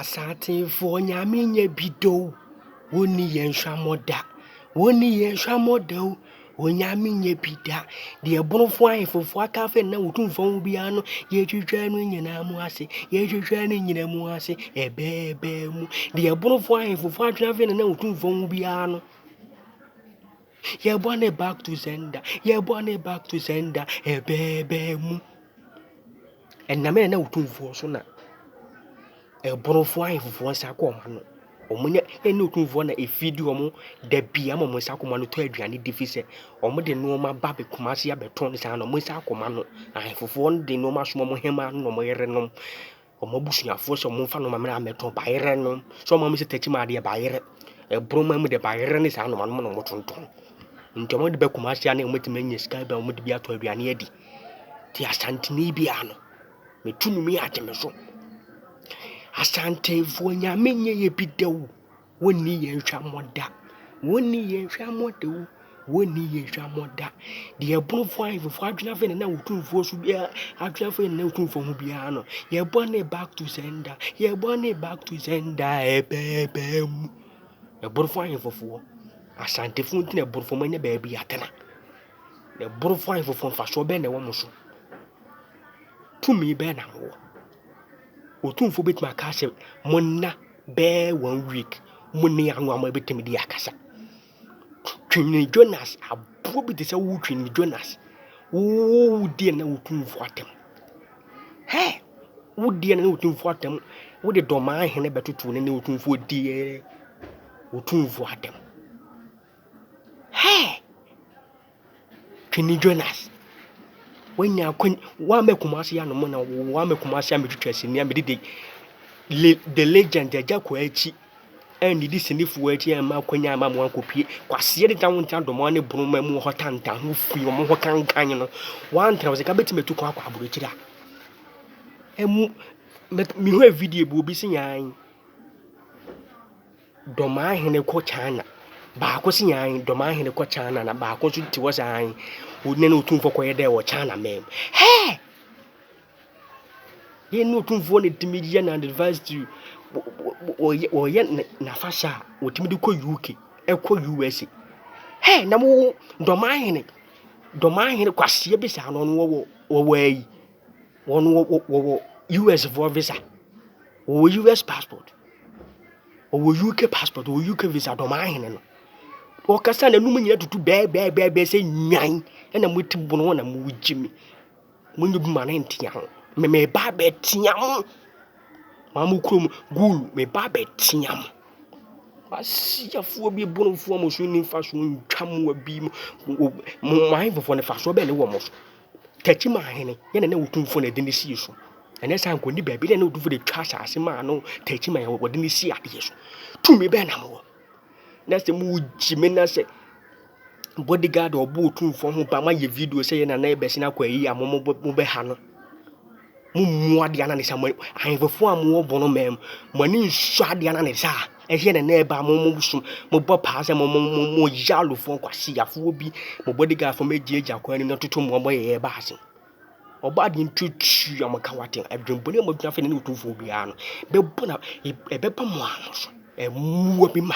Asasefoɔ Nyame nyɛ bi da o, wɔnni yɛn hwammɔ da. Wɔnni yɛn hwammɔ da o, wɔn Nyame nyɛ bi da. Deɛ bonofoɔ ahefofoɔ akafe na wɔtumfoɔ ho biara no, yɛtwitwa no nyinaa mu ase, yɛtwitwa no nyinaa mu ase, ɛbɛɛbɛɛ mu. Deɛ bonofoɔ ahefofoɔ atwenafe na wɔtumfoɔ ho biara no. Yɛbɔ ne back to sender, yɛbɔ ne back to sender, ɛbɛɛbɛɛ mu. Ɛnam yɛn na wotumfoɔ so na ɛborofoɔ ahemfofoɔ nsa kɔ wɔn ano. Wɔn ne yɛn ne wotumfoɔ na efidi wɔn da bi ama wɔn nsa akoma no tɔ aduane di fi sɛ wɔn de nneɛma ba bɛ kumase abɛtɔn saa na wɔn nsa akoma no ahemfofoɔ no de nneɛma som wɔn hɛmaa no na wɔn yerenom. Wɔn abusuafoɔ sɛ wɔmfa nnoɔma mmra mmɛtɔ, bayerɛ no. Sɛ wɔn a wɔsɛ takyi maa deɛ bayerɛ, boroma mu deɛ bayerɛ ne saa nnoɔma nom na wɔtontɔn. Nti wɔde ba Kumasi ha na wɔatumi anya sika bi a wɔde bi atɔ aduane adi. Nti Asanteni biara no, metu no mu yi agye me so. Asantefoɔ Nyame nyɛ yɛ bi da o. Wonni yɛn hwammɔ da. Wonni yɛn hwammɔ da o. Wonni yɛn hwammɔ da. Deɛ ɛbonofoɔ ahemfo adwene afei na otumfoɔ so biara adwene afei na otumfoɔ ho biara no. Yɛbɔ ne back to sender. Yɛbɔ ne back to sender ɛbɛɛbɛɛ mu. Ɛbonofoɔ ahemfofoɔ. Asantefoɔ nti na ɛbonofoɔ mo nyɛ baabi atena. Ɛbonofoɔ ahemfofoɔ mfasoɔ bɛn na ɛwɔ mo so. Tumi bɛn na mo wɔ. Otumfo betumi aka sɛ, Monna bɛɛ one week, mo ne ano ama ebetumi de akasa. Twene Jonas, aboɔ bi te sɛ wo twene Jonas. Wo deɛ na wo tumfo atam. Hɛ! Wo deɛ na wo tumfo atam. Wo de dɔmaa hene bɛtoto ne ne wo tumfo deɛ wo tumfo atam. Hɛ! Twene Jonas, wanya akwan, wama Kumasi anom na wama Kumasi amɛtwitwa sini a mede de the legend Agya Kwakyi annidi sinifoɔ akyi amma akwan amma mo ankɔpie kwaseɛ de tawo nta dɔmɔ ne boroma mu hɔ tantan ho fi wɔn hɔ kankan no wantra wo sɛ ka bɛtumi atu kwan akɔ aborɔkyiri a ɛmu mehwɛ video bi obi se yan Domaa hene kɔ China. Baako se nyan Domaa hene kɔ China na baako nso te hɔ sɛ an ɔne ne otumfoɔ kɔyɛ dɛ wɔ China man mu. Hɛɛ! Yɛn ne otumfoɔ na ɛtumi yɛ na anniversary wɔyɛ n'afahyɛ a wɔtumi de kɔ UK ɛkɔ USA. Hɛɛ na mo Domaa hene Domaa hene kwaseɛ bi saa na ɔno ɔwɔ ɔwɔ ha yi. Wɔn wɔ wɔ wɔwɔ US foɔ visa. Wɔwɔ US passport. Wɔwɔ UK passport. Wɔwɔ UK visa dɔmaa hene no. Wɔkasa na ɛnum nyina tutu bɛɛbɛɛbɛɛbɛɛ sɛ nwan ɛna mo ti bono na mo gye mi. Mo nyɛ dwuma no ntea ho. Me me ba bɛtea mo. Maa mo kurom gulu me ba bɛtea mo. Asiafoɔ bi bonofoɔ mo so ne mfasoɔ ntwa mo abi mo mo mo ahemfofoɔ no mfasoɔ bɛn ne wɔ mo so. Tetima ahene yɛ na na otumfoɔ na ɛde ne sie so. Ɛnyɛ saa nkɔ ni baabi dɛ na otumfoɔ de twa asase maa no Tetima yɛ wɔde ne sie adeɛ so. Tumi bɛn na mowɔ? Na sɛ mo gye me na sɛ bodyguard a ɔbɔ otumfoɔ ho ba ma yɛ video sɛ yɛ na na ɛbɛsen akɔ ayi a mo mo bɛha no. Mommu adeɛ anane saa, mo ahemfo a mowɔ bɔn ɔman mu, mo ani nsɔ adeɛ anane saa. Ɛheɛ na ɛna ɛba a mo mo som, mobɔ paa sɛ mo mo mo mo yalofoɔ kwasiafoɔ bi, mo bodyguardfoɔ moagyagya kwan anim na toto mo ɔbɔ yɛyɛ ba ase. Ɔbaa deɛ ntutu a moka wate adwembɔne a moadwene afei na ne otumfoɔ biara no bɛbɔ na ɛbɛba mo ano so. Ɛmmoa bi ma.